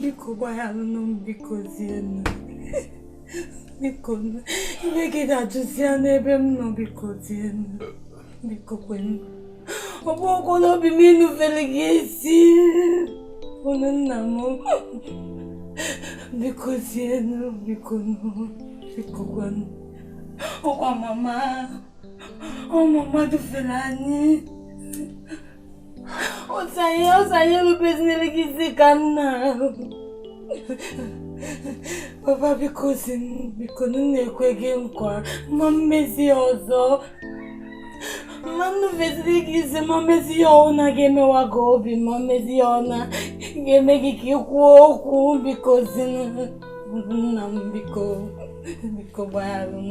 biko gbaghalụnụ m biko zienụ biko iwe gị dajụzie n'ebe m nọ biko zienụ biko kwenụ ọ bụrọkwa n'obi m inufere gị isi unu nna m biko zienụ biko biko kwenụ ọ kwa mama ọ mama dufiere anyị Ọ sị anyị, ọ sị anyị erubezinara gị isi ka nna papa bikozie biko m na-ekwe gị nkwa ma mmezi ọzọ ma nnufeziri gị isi ma mmezi ihe ọbụna ga-emewa gị obi ma mmezi ihe ọbụna ga-eme gị ka ị kwuo okwu bikozie nna m biko biko gbagharụ m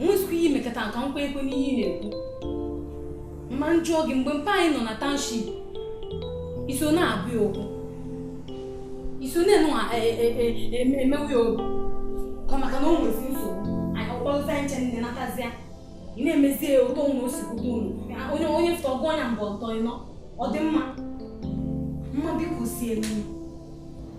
nwezikwa ihe i mekata nka nkwa ekwe n'ihe ị na-ekwu ma m jụọ gị mgbe mpa anyị nọ na township i so na-agwọ ya ọgwụ i so na-enu emewe ya ọgwụ ka maka na o nwezi nsogbu anyị ọkpọlụta nche nne natazia ị na-emezi ya ụtọ ụlọ o si kwudo unu onye onye fụta ọgụ ọnya mgbe ọtọ ịnọ ọ dị mma mma biko zienụ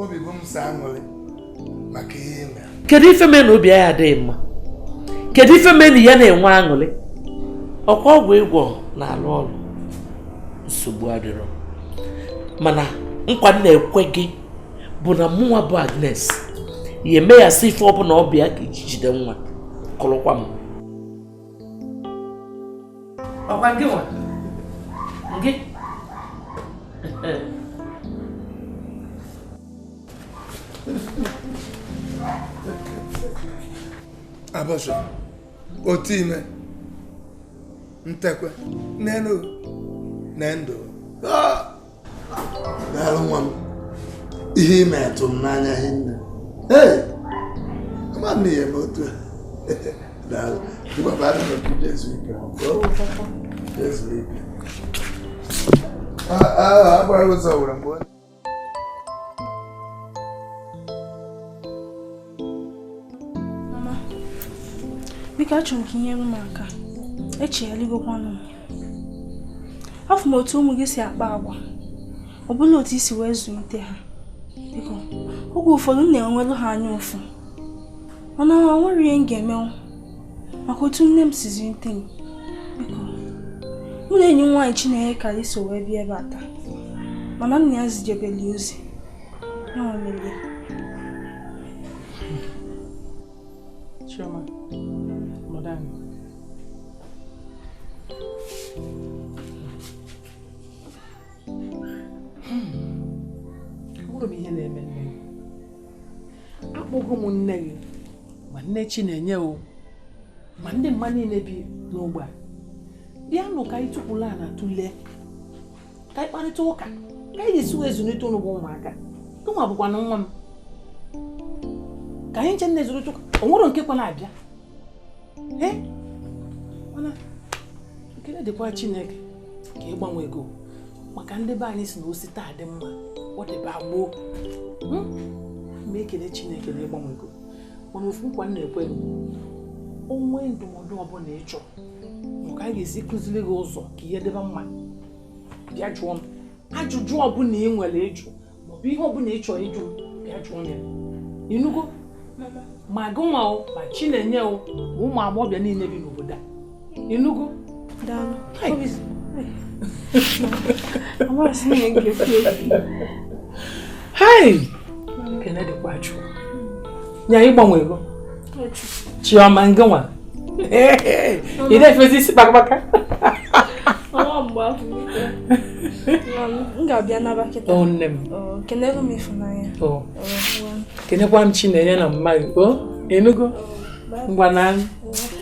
obi bụ m sọ aṅụrị maka ihe ị mere kedu ife mee na obi aya adị gị mma kedu ife mee na ị ya na-enwe aṅụrị ọ kwa ọgwụ ị gwọ na-alụ ọrụ nsogbu adịrọ mana nkwa m na-ekwe gị bụ na mụnwa bụ Agnes ya-eme ya sị ife ọbụla ọ bụ ya ka i ji jide nwa kụrụkwa m ọ kwa gịnwa gị abọsọ otu i me ntekwe n'elu na ndụ daalụ nwa m ihe i me tụ m n'anya hinne ee ama m ihe ma otu daalụ ịgbabara na obibi ezu ike ezu ike agbara ụzọ were mgbe Mama, biko achọrọ m ka i nyerụ m aka echegharịgokwanụ m afụ m otu ụmụ gị si akpa agwa ọ bụla otu i si wee zụlite ha biko oge ụfọdụ m na-enwelu ha anya ụfụ mana o nwerọ ihe m ga-emenwu maka otu nne m si zụlite m biko mụ na enyi m nwaanyị Chineke ka anyị so wee bịa ebe a taa mana nne ya zijebeli ozi Chioma, madam. Mụrụ m ihe na-eme nne gị. Akpọgo m nne gị ma nne Chinenye o ma ndị mama niile bi n'ogbe a. Bịanụ ka anyị tukwuru ana tụlee ka anyị kparịta ụka ka anyị ga-esi wee zụlite ụnụ bụ ụmụaka gịnwa bụkwanụ nwa m ka anyị nche nne zụrụ chụka o nwere nke kwa na-abịa ee mana ekele dịkwa chineke ka ị gbanwego maka ndị be anyị sị na o si taa dị mma ọ dịba gboo hmm? ma ekele chineke na ị gbanwego mana ofu nkwa m na-ekwe gị o nwee ndụmọdụ ọbụla ị chọrọ mụ ka a ga-esi kụziri gị ụzọ ka ihe dịba mma bịa jụọ m ajụjụ ọbụla ị nwere ịjụ maọbụ ihe ọbụla ị chọrọ ịjụ m bịa jụọ m ya ị nụgo ma gị nwa o ma chinenye o ma ụmụ agbọghọbịa niile bi n'obodo a ị nụgo daalụ amasị m ga-efi efi hai ekene dịkwa chukwu na ị gbanwego chiọma ngịnwa ị na-efezi isi kpakpaka m ga-abịa naba kịta nne m kenelu m ịfụnanya kenekwa m chinenye na mama gị o ị nụgo ngwanụ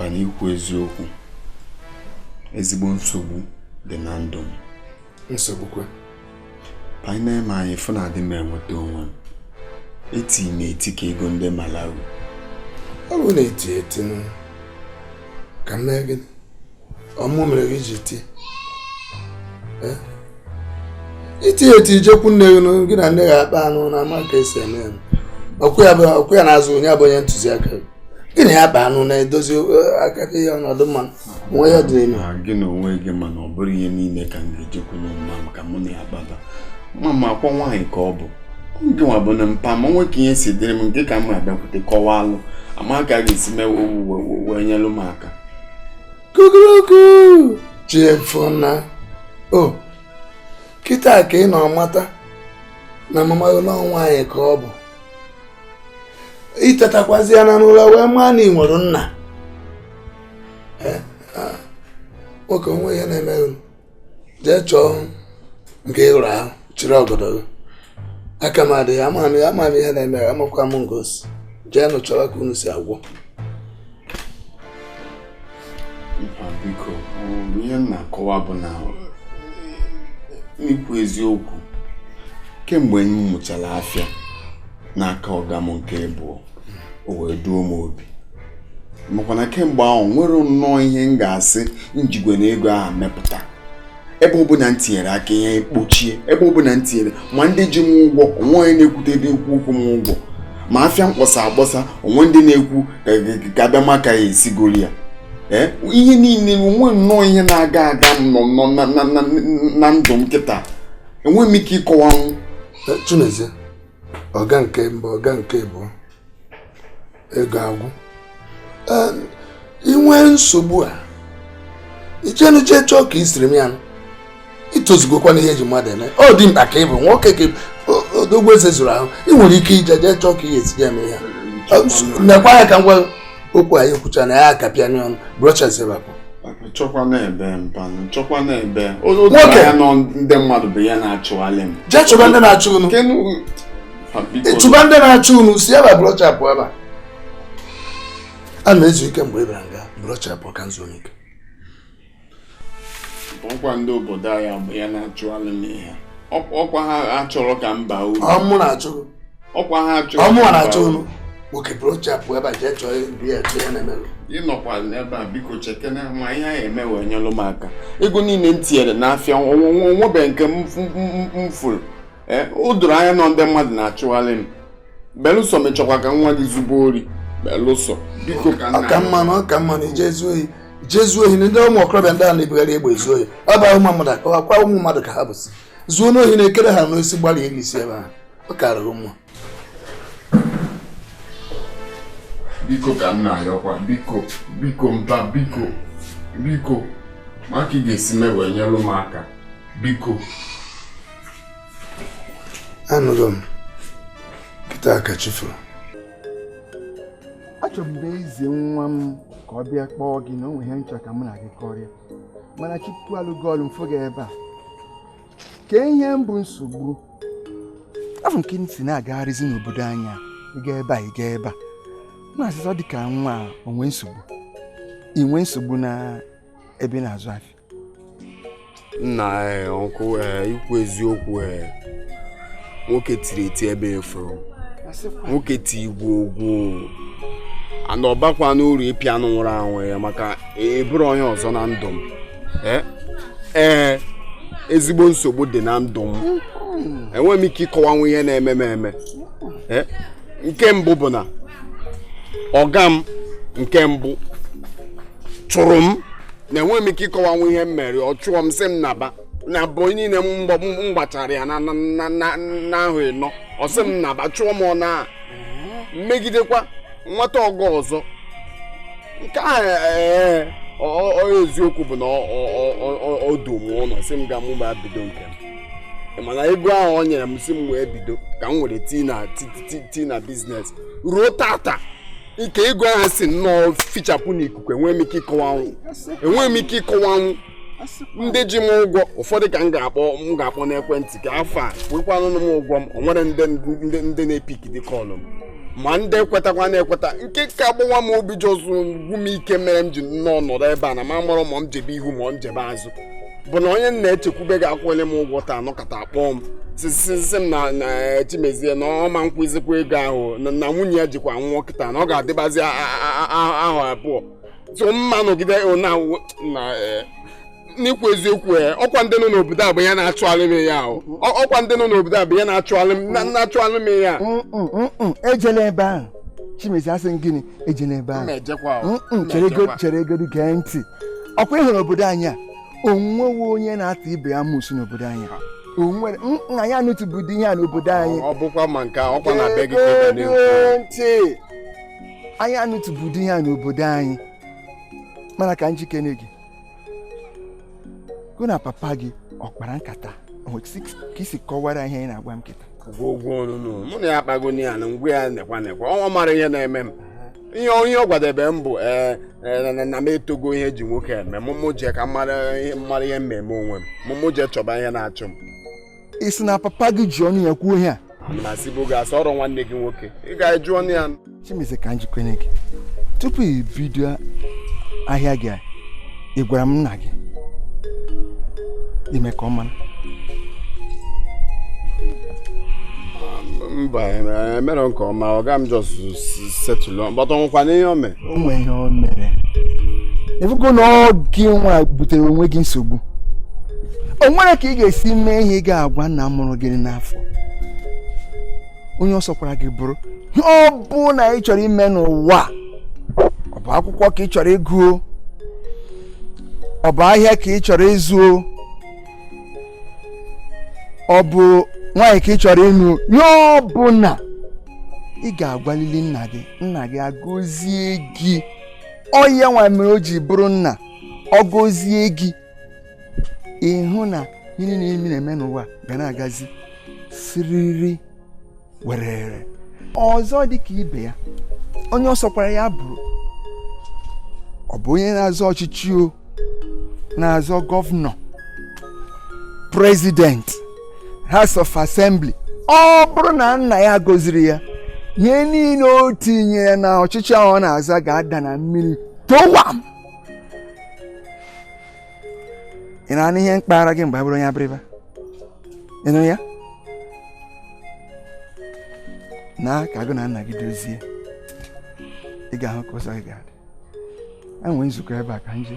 mba n'ikwu eziokwu ezigbo nsogbu dị na ndụ m nsogbu kwa mpa i nee m anya ị fụ na adị m enweta onwe m eti m eti ka ego ndị Malawi ọ bụ na-eti eti ka m mee gịnị ọ mụ mere i ji tie eh? i tie eti i jekwu nne gị gị na nne gị akpaanụ na ama ka esi eme ya ọkwa ya na-azụ onye abụ onye ntụziaka gị gị na ya kpaanụ na-edozi eh, aka ihe ọnọdụ mma nwa ya dịịlị gị na onwe gị mana ọ bụrọ ihe niile ka m ga-ejekwu mama m ka mụ na ya kpaba mama ọkwa nwaanyị ka ọ bụ gị nwa bụnụ mpa m nwoke ihe si dịrị m nke ka m abịakwute kọwalụ ama ka a ga-esi mee wee nyelụ m aka kukuruku chi efona o oh, kịta ka ị nọ mata na mama gị na ọ nwaanyị ka ọ bụ i tetakwazịa na nụla wee maa na ị nwere nna eh, ah, nwoke o nwe ihe na-eme gị jee chọọ nke ị rụrụ ahụ chiri ọgọdọ gị aka m adịghị ama m ya ama m ihe na-eme ya amakwa m nga o si jeenụ chọrọ ka unu si agwọ ya biko ihe m na-akọwa bụ na n'ikwu eziokwu kemgbe m mụchara afịa n'aka ọga m nke abụọ o wee duo m obi makwana kemgbe ahụ o nwerọ nnọọ ihe m ga-asị m jigoro ego ahụ mepụta ebe ọbụla m tinyere aka ihe ekpochie ebe ọbụla m tinyere ma ndị ji m ụgwọ o nwe onye na-ekwutedị okwu ịkwụ m ụgwọ ma afịa m kpọsa akpọsa o nwe ndị na-ekwu ka bịa maka ya esigoro ya eh, ihe niile o nwerọ nnọọ ihe na-aga aga na ndụ m kịta enweghị m ike ịkọwanwu eh, Chimezie ọga nke mbụ ọga nke abụọ ego agwụ i nwee nsogbu a i jeenụ jee chọọ ka i siri m ya i tozugokwanụ ihe e ji mmadụ eme ọ dimkpa ka ị bụ nwoke ka odogwu eze zuru ahụ ị nwere ike ije jee chọọ ka ihe etinye eme ya nekwa ya ka ngwa okwu anyị kwucha na ya akapịa n'ọnụ brochas ebe a pụọ chọkwa na ebe mpa unu chọkwa na ebe otu ya nọ ndị mmadụ bụ ya na-achụghalị m jee chọba ndị na-achụ unu ị chọba ndị na-achụ unu si ebe blọchapụ ebe a na-ezu ike mgbe ị bịara nga blọchapụ ka nzu onye ike ọkwa ndị obodo anyị bụ ya na-achụ alụ n'ihe ọkwa ha achọrọ ka mba uru ọ mụ na-achụ ọkwa ha achọrọ ọ mụ na-achụ unu nwoke blọchapụ ebe a jee chọọ ibi ya chọọ ya na-emerụ ịnọkwa n'ebe a biko chekena ma ihe a ya-eme wee nyelụ m aka ego niile m tinyere n'afịa o nwebe nke m fụrụ ee o doro anya na ndị mmadụ na-achụgharị m belụsọ ị chọkwa ka nwa gị zube ori belụsọ biko ka nna ọ ka mma na ọ ka mma na ije ezu ohi ije ezu ohi na ndị ụmụ okorobịa ndị a na-ebugharị egbe ezu ohi ọ bụ ụmụ mmadụ ka ọkwa ụmụ mmadụ ka ha bụ sị zuo n'ohi na-ekere ha n'osisi gbalị elu isi ebe ahụ ọ karịrị mma biko ka m na-ayọkwa biko biko mba biko biko ma ka ị ga-esi mee wee nyelụ m aka biko anụgo m kịta ka chi foro achọbu m bịa izi nwa m ka ọ bịa kpọọ gị na o nwere ihe m chọ ka mụ na gị kọrịa mana chukwu alụgo ọlụ m fụ gị ebe a kee ihe bụ nsogbu afụ nke m sị na-agagharịzi n'obodo anyị ị gaa ebe a ị gaa ebe a a na-asịzi ọ dị ka nwa o nwe nsogbu i nwe nsogbu na ebe ị na-azụ afịa nna eh, ọkụ eh, ikwu eziokwu eh, nwoke tiri eti ebe efuru nwoke ti igwe ogwu ana ọbakwa n'uru ịpịa anụ nwụrụ anwụ ya maka eburu onye ọzọ na ndụ m ee ezigbo nsogbu dị na ndụ m enweghị m ike ịkọwanwu ihe na-eme m eme nke mbụ bụ na ọga m nke mbụ chụrụ m na enweghị m ike ịkọwanwu ihe m mere ọ chụọ m sị m naba na bọị niile m gbachara ya n'ahọ ịnọ ọ sị m naba chụọ m ọ na m megidekwa nweta ọga ọzọ nke a ee eziokwu bụ na o du m ụlọ sị m ga mụwa bido nke m mana ego ahụ o nyere m sị m were bido ka m were tii na biznes ruo tata ike ego ahụ si nnọọ fichapụ n'ikuku enweghị m ike ịkọwanwụ enweghị m ike ịkọwanwụ ndị ji m ụgwọ ụfọdụ ka m ga-akpọ n'ekwentị ka fa kwụọkwanụ m ụgwọ m o nwere ndị na-epikidi kọlụ m ma ndị ekwetakwa na-ekweta nke ka agbawa m obi jọs gwụ m ike mere m ji nnọọ nọrọ ebe a na m amarọ ma m jebe ihu ma m jebe azụ bụ na onye m na-echekwube ga-akwụnye m ụgwọ taa nọkata kpọọ m sị sị m na chimezie na ọ ma kwụzikwa ego ahụ na nwunye ya jikwa nwa kịta na ọ ga-adịbazi ahụ abụọ so mma nọgide n'ikwu eziokwu e, ọkwa ndị nọ n'obodo a bụ ya na-achụgharị m ya ọkwa ndị nọ n'obodo a bụ ya na-achụgharị m ya ejela ebe ahụ chimezie asị m gịnị ejena ebe ahụ cheregodu gee ntị ọkwa ị hụrụ obodo anyị a o nwere onye na-ata ibe ya amusu n'obodo anyị a o nwere anyị anụtụbụdị ihe a n'obodo anyị ọ bụkwa ma nke ọkwa na be gị ntị anyị anụtụbụdị ihe a n'obodo anyị mana ka m jụkene gị gụ na papa gị ọ kpara nkata ka i si kọwara ihe ị na-agwa m kịta ụgwọ ọnụnụ mụ na ya akpago ya na m gwa ya nekwa nekwa ọ mara ihe na-eme m ihe ọ gwadebe m bụ ee eh, eh, na m etogo ihe e ji nwoke eme mụ mụ jee ka m mara ihe m mere onwe m mụ mụ jee chọba ihe na-achọ m ị sị na papa gị ji ọnụ ya kwuo ihe a na-asịbụ gị asị ọrụ nwanne gị nwoke ị ga-eju ọnụ ya chimezie ka m jụkene gị tupu i bido ahịa gị a ị gwara nna gị mee ka ọ mara mba emere nke ọma ọga m jọs setụlụ mkpọtụ nwụkwa n'ihe o mee o nwere ihe o mere ị fụgo na ọ gị nwa butere onwe gị nsogbu o nwere ka ị ga-esi mee ihe ị ga-agwa nna mụrụ gị n'afọ onye ọ sọkwara gị bụrụ ihe ọbụna ị chọrọ ime n'ụwa ọ bụ akwụkwọ ka ị chọrọ ịgụ ọ bụ ahịa ka ị chọrọ ịzụ ọ bụ nwaanyị ka ị chọrọ ịnụ ihe ọbụna ị ga-agwalili nna gị nna gị agọzie gị ọ ya nwa mere o ji bụrụ nna ọ gọzie gị ị hụ na ihe niile ị na-eme n'ụwa ga na-agazi siriri werere ọzọ dị ka ibe ya onye ọ sọkwara ya bụrụ ọ bụ onye na-azọ ọchịchị o na-azọ gọvanọ prezidenti House of Assembly ọ bụrụ na nna ya agọzirọ ya ihe niile o tinyere na ọchịchị ahụ ọ na-azọ ga-ada na mmiri towam ị na-anụ ihe m kpagara gị mgbe abụrụ onye Abịrịba ị nụ ya na ka gị na nna gị dozie ị ga-ahụ ka ụzọ gị ga-adị e nwe nzukọ ebe a ka m je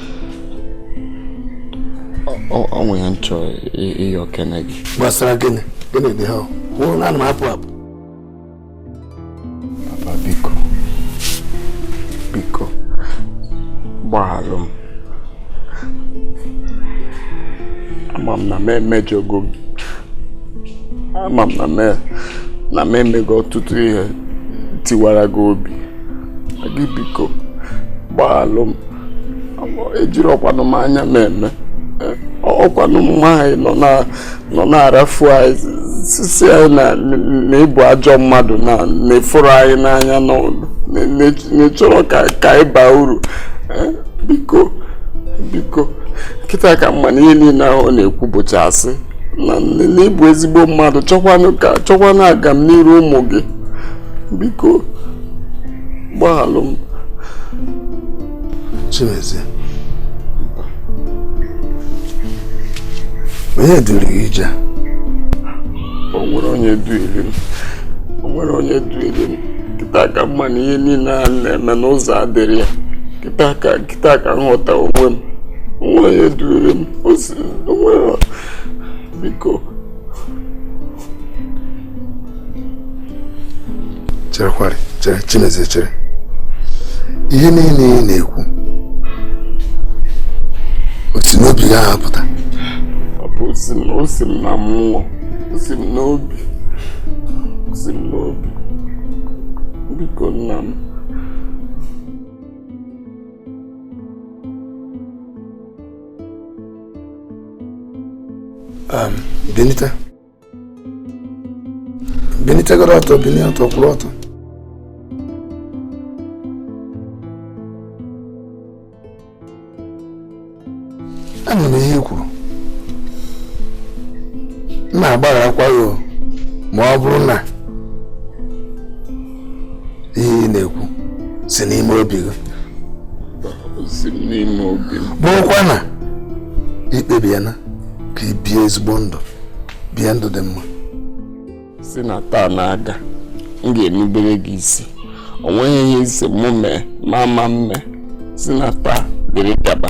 o nwe ihe m chọrọ ịyọkene gị gbasara gịnị gịnị dị ha nwụrụ na m apụ apụ papa biko biko gbaghalụ m ama m na m emejọgo gị ama m na m emego ọtụtụ ihe tiwara gị obi gị biko gbaghalụ m ejirọkwanụ m anya m eme ọ kwanụ mama anyị nọ na-arafu anyị sị sị anyị na ị bụ ajọ mmadụ na na ị fụrọ anyị n'anya na ị chọrọ ka anyị baa uru biko biko kịta ka m ma na ihe niile ahụ ọ na-ekwu bụcha asị na na ị bụ ezigbo mmadụ chọkwanụ agamniiru ụmụ gị biko gbaghalụ m Chimezie onye duru gị ije o nwerọ onye duiri m o nwerọ onye duiri m kịta ka m ma na ihe niile a m na-eme na ụzọ adịrọ ya kịta ka kịta ka m ghọta onwe m o nwerọ onye duiri m o si onwe biko cherekwarị chere chimezie chere ihe niile ị na-ekwu o si n'obi gị apụta ọ bụ o si m na mmụọ o si m n'obi o si m n'obi biko nna m Um, Benita. Benita get up, binite ọtọ kwụrụ ọtọ. Anụ m ihe i kwuru. M na-agbagharakwa gị ma ọ bụrụ na ihe ị na-ekwu si n'ime obi gị bụrụkwa na i kpebiena ka i bie ezigbo ndụ bie ndụ dị mma si na taa na-aga m ga-erubere gị isi o nweghị ihe ị sị mụ mee ma ama mme si na taa dịrị gaba